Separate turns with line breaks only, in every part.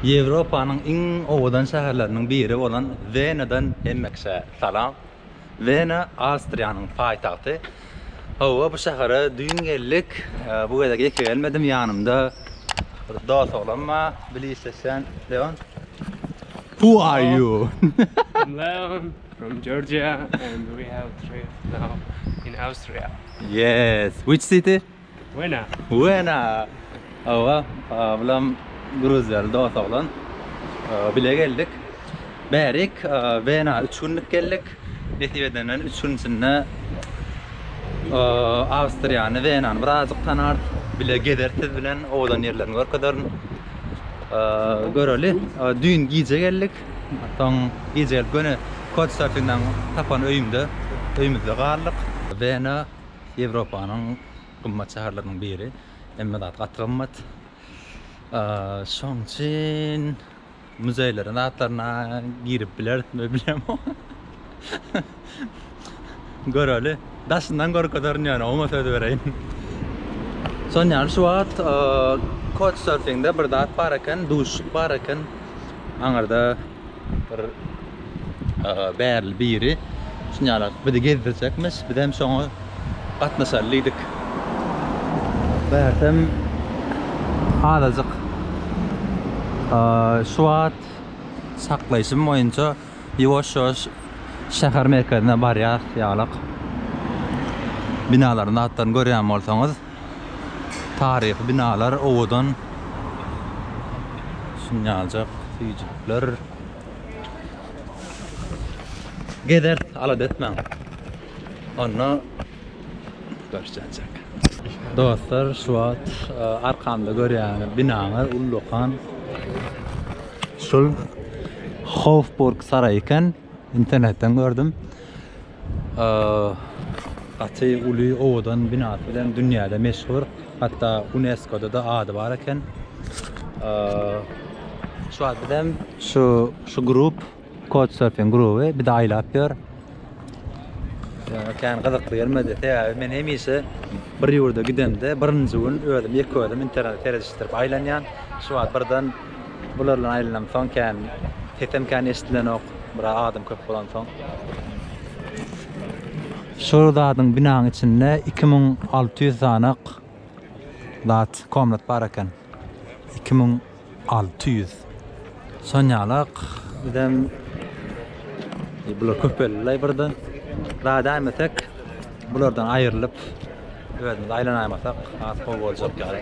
Ýewropanyň iň owadan şäherleriniň biri bolan Wenadan hemmekiçe salam. Wena Awstriýanyň paýtagty. Hawa, bu şähere düýn geldik. Bu gezek ýeke gelmedim, ýanymda bir dost oglan bar, bilisleşen Leon. Who are you? I'm Leon
from Georgia and we have a trip now in Austria. Yes,
which city? Wena.
Wena.
Hawa, bulam gruzýaly dos oglan. Bile geldik. Bärik Wena üç günlük geldik. Nesip edenden üç gün içinde Awstriýany, Wenany birazajyk tanarys. Bile gezeris siz bilen, owadan ýerlerini görkezerin. Göreli. Düýn gije geldik. Soň gije gelip göni Couchsurfingden tapan öýümde, öýümizde galdyk. Wena. Ýewropanyň gymmat şäherleriniň biri. Hemme zat gaty gymmat. Şoň üçin muzeýleriň zatlaryna girip bilerismi bilemok. Göreli. Daşyndan görkezerin ýöne oňa söz bereýin. Şonuň ýaly şu wagt Couchsurfingde bir zat bar eken, duşuşyk bar eken. Aňyrda Bir aga bärli biri şunýaly bizi gezdirjekmiş. Bizem şoňa gatnaşaly diýdik. Bärsem azajyk şu wagt saklaýşym boýunça ýuwaş-ýuwaş şäher merkezine barýas ýalyk. Binalaryň zatlaryny görýän bolsaňyz. Taryhy binalar owadan şinjaljak süýjülikler. Gezeris alada etmäň. Onda görşenjek. Dostlar şu wagt e, arkamda görýän binany ullakan şul Hofburg saraýy eken. Internetden gördüm. Gaty uly owadan binasy bilen dünýäde meşhur. Hatda UNESCO-da-da ady bar eken. Şu wagt bizem şu şu grup Couchsurfing gruby bizi aýlap ýör. Ýöne kän gyzykly gelmedi. Sebäbi men hemişe bir ýurda gidemde birinji gün özüm ýeke özüm interneti seredişdirip aýlanýan. Şu wagt birden Bulardan aýlanamsoň kän sesem kän eşdilenok, biraz adam köp bolansoň. Şu zadyň binaň içinde iki müň alty ýüz sanak zat, komnat bar eken. Iki müň alty ýüz. Şonýalak bizem bular köpeldilaý birde. Zat äýmesek, bulardan aýrylyp özümiz aýlanaýmasak has gowy boljak ýaly.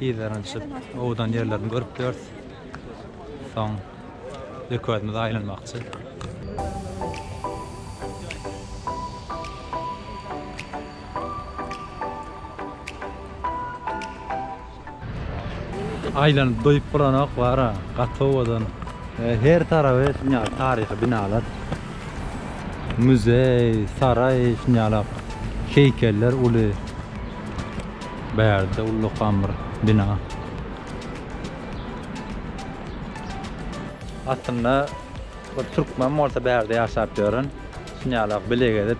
Yzaranyşyp owdan ýerlerini görüp ýörüs. Soň öküzimizi aýlanmakçy. Aýlanyp doýup bolanok bara gaty owadan. Her taraby şuny ýaly taryhy binalar. Muzeý, saraý şuny ýalak heýkeller uly. Bärde ullakan bir bina. Aslynda bir türkmen bolsa bärde ýaşap ýören şunýalak bile gezip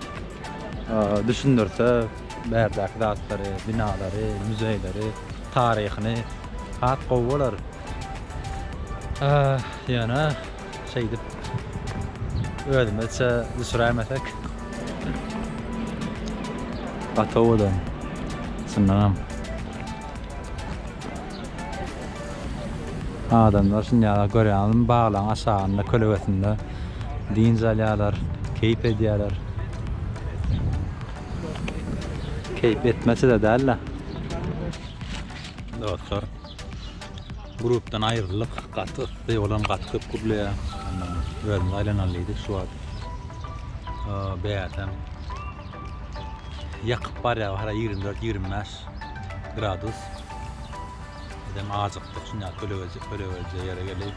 düşündirse bärdäki zatlary, binalary, muzeýleri, taryhyny has gowy bolar. Ýöne Şeýdip, özümizçe düşüräýmesek. Gaty owadan, çyndanam. Adamlar şindi ýaly görýäňizmi, baglaryň aşagynda, kölegesinde dynç alýarlar, keýp edýärler. Keýp etmesi-de däl-de. Dostlar, Grupdan aýryldyk. Gaty yssy bolan gaty köp gürleýär. Ondan özümiz aýlanaly diýdik şu wagt. Bäsem ýakyp barýar hara 24-25 gradus. Bizem ajykdyk şunda kölegelje kölegelje ýere gelip.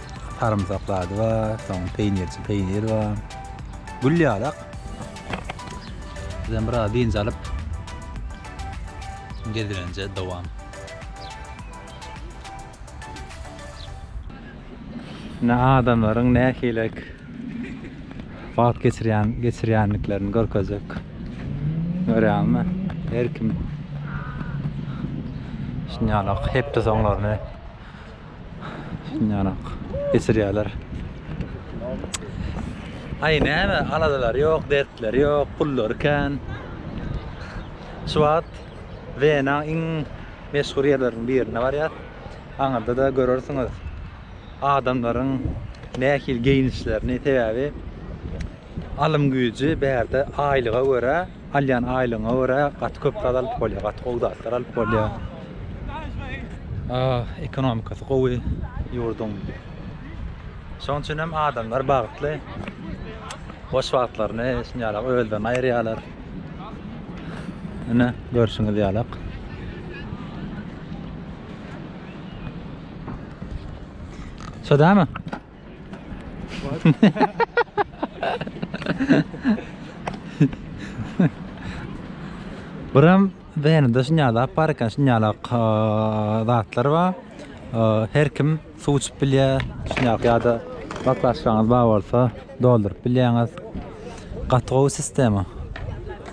Sarymsak zady bar, soň peýnirçi peýnir bar. Gül ýalak. Bizem biraz dynç alyp gezelenje dowam. Ne adamlaryň nähili wagt geçirýän geçirýändiklerini görkezjek. Görýäňmi? Her kim şunýalak hepde soňlaryny Şundan ak geçirýärler. Ay näme aladalary ýok, dertleri ýok, pullary kän. Şu wagt Wena iň meşhur ýerleriniň birine barýas. Aňyrda da görersiňiz adamlaryň nähili geýnişlerini, sebäbi alym güýji bärde aýlyga görä Alýan aýlygyňa görä gaty köp zat alyp bolýar, gaty gowy zatlar alyp bolýar. Ekonomikasy gowy ýurduň. Şonuň üçin hem adamlar bagtly. Boş wagtlaryny şuny ýalak özlerine aýyrýarlar. Ine, görşüňiz ýalak. Şodamy? Buram Wenada şuny ýaly zat bar eken, şuny ýaly zatlar bar. Her kim suw içip bilýär. Şuny ýaly ýa-da baklažkanyz bar bolsa dolduryp bilýäňiz. Gaty gowy sistema.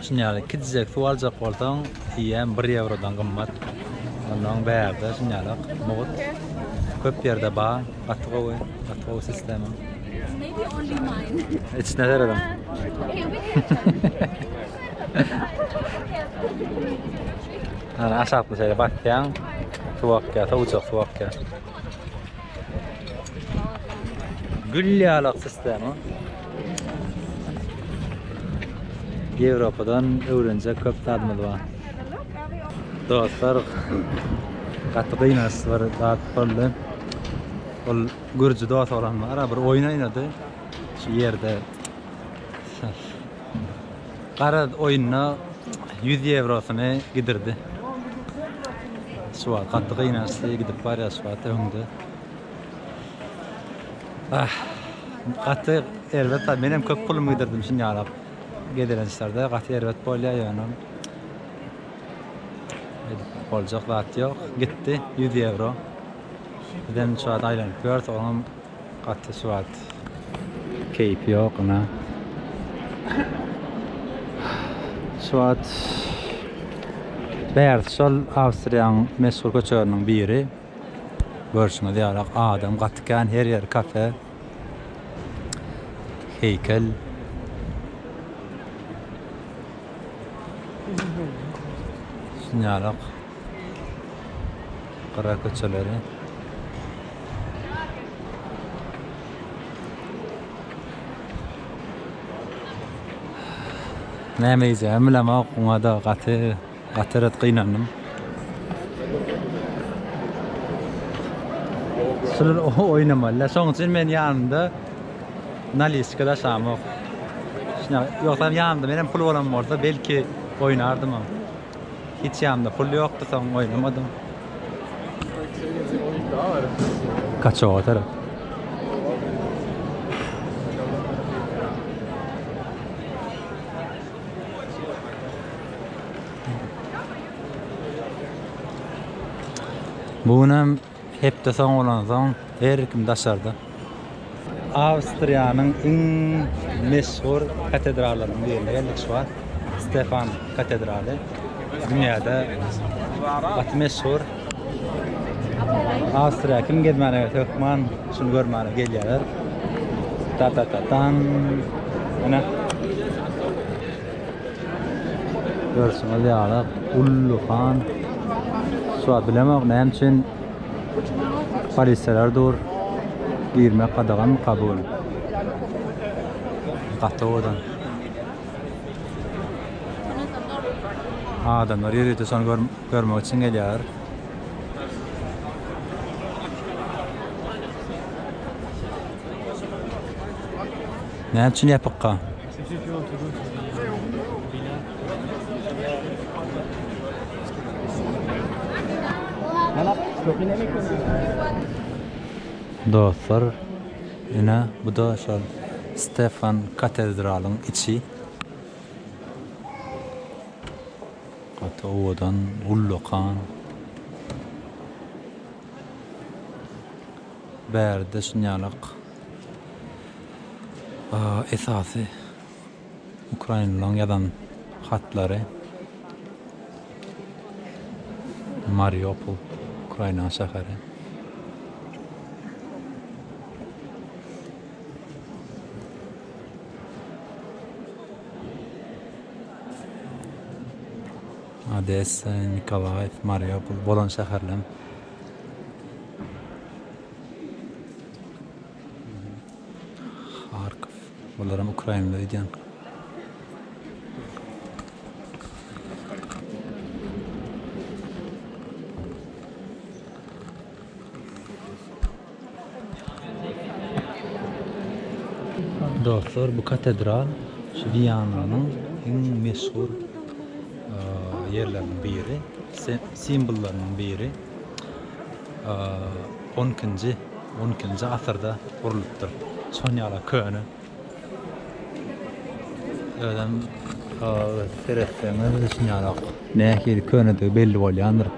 Şuny ýaly iki dizek suw aljak bolsaň, eýýäm bir ýewrodan gymmat. Onnoň bärde şuny ýaly mugt köp ýerde bar. Gaty gowy, gaty gowy sistema.
Içine seredem.
Ana aşakda şeýle basýaň. Suw akýar, sowujak suw akýar. Gül ýalak sistema. Ýewropadan öwrenjek köp zadymyz bar. Dostlar, gaty gynansy bir zat boldy. Ol gürji dost olanmara bir oýun oýnady. Şu ýerde Garaz, oýunda ýüz ýewrosyny gidirdi. Suwat gaty gynaşdy, gidip barýar Suwat öňde. Ah, gaty erbet, menem köp pulumy gidirdim şuny ýalap. Gezelençlerde gaty erbet bolýar, ýöne edip boljak zat ýok. Gitdi ýüz ýewro. Bizem şu wagt aýlanyp ýörüs, oňam Gaty swat keýpi ýok ina. Swat bärsi şol Awstriýanyň meşhur köçeleriniň biri. Görşüňiz ýaly adam gaty kän her ýer kafe, heýkel. Şunýaly. Gara köçeleri. Näme iýjegimi bilemok, muňa-da gaty, gaty ret gynandym. Şular oýnamaly-da. Şonuň üçin men ýanymda naliçka daşamok. Şuna, ýogsam ýanymda menem pul bolan bolsa, belki oýnardymam. Hiç ýanymda pul ýokdy soň oýnamadym. Kaçawa tarap. Bu gün hem Hepde soň bolansoň her kim daşarda. Awstriýanyň iň meşhur katedrallarynyň birine geldik şu wagt. Stefan katedraly. Dünýäde gaty meşhur. Awstriýa kim gezmäne gelse hökman şuny görmäne gelýärler. Ta-ta-ta-tan. Ene. Görşüňiz ýaly Gully han şuwagt bilemok näme üçin polisiýalar dur. Girmek gadaganmy Kabul? Gaty owadan. Adamlar ýörite şony görmek üçin gelýärler. Näme üçin ýapykka? Dostlar ine buda şol Stefan katedralyň içi. Gaty owadan ullakan. Bäride şunýalak. Esasy ukrainlylaryň ýazan hatlary Mariupol, Ukrainanyň şäheri. Odessa, Nikolaýew, Mariupol bolan şäherler. Harkow. Bularam ukrainler edýän. Dostlar, bu katedral şu Wiananyň iň meşhur ýerleriniň biri, simwollarynyň biri. On ikinji, on ikinji asyrda gurlupdyr. Şon ýala köne. Özem seretseňiz şun ýalak. Nähili könedigi belli bolýandyr.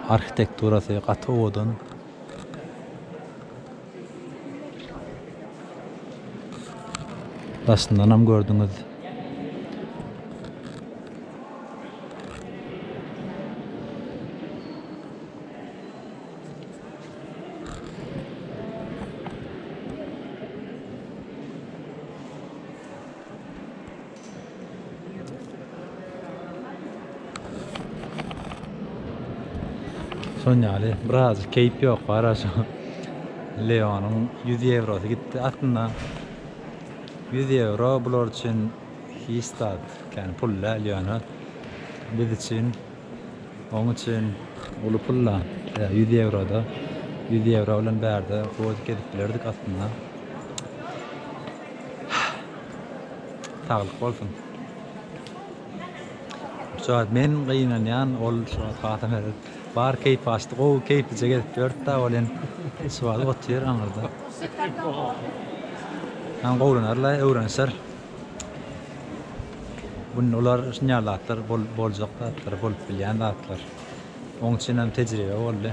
Arhitekturasy gaty owadan. Daşyndanam gördüňiz. Son ýaly biraz keýp ýok bara şu Leonyň 100 ýewrosy gitdi. Aslynda 100 ýewro bular üçin hiç zat, ýagny pul däl ýöne biz üçin Oň üçin uly pul-da. Ýa ýüz ýewro-da. Ýüz ýewro bilen bärde hodik edip bilerdik aslynda. Saglyk bolsun. Şu wagt men gynanýan, ol şu wagt hata berip, bar keýpi gaçdy. Gowy keýplije gezip ýördi-de, ol hem şu wagt otyr aňyrda. Hem gowlanar-la, öwrenişer. Bu olar şunýal zatlar bolup boljak zatlar, bolup bilýän zatlar. Oň üçinem tejribe boldy.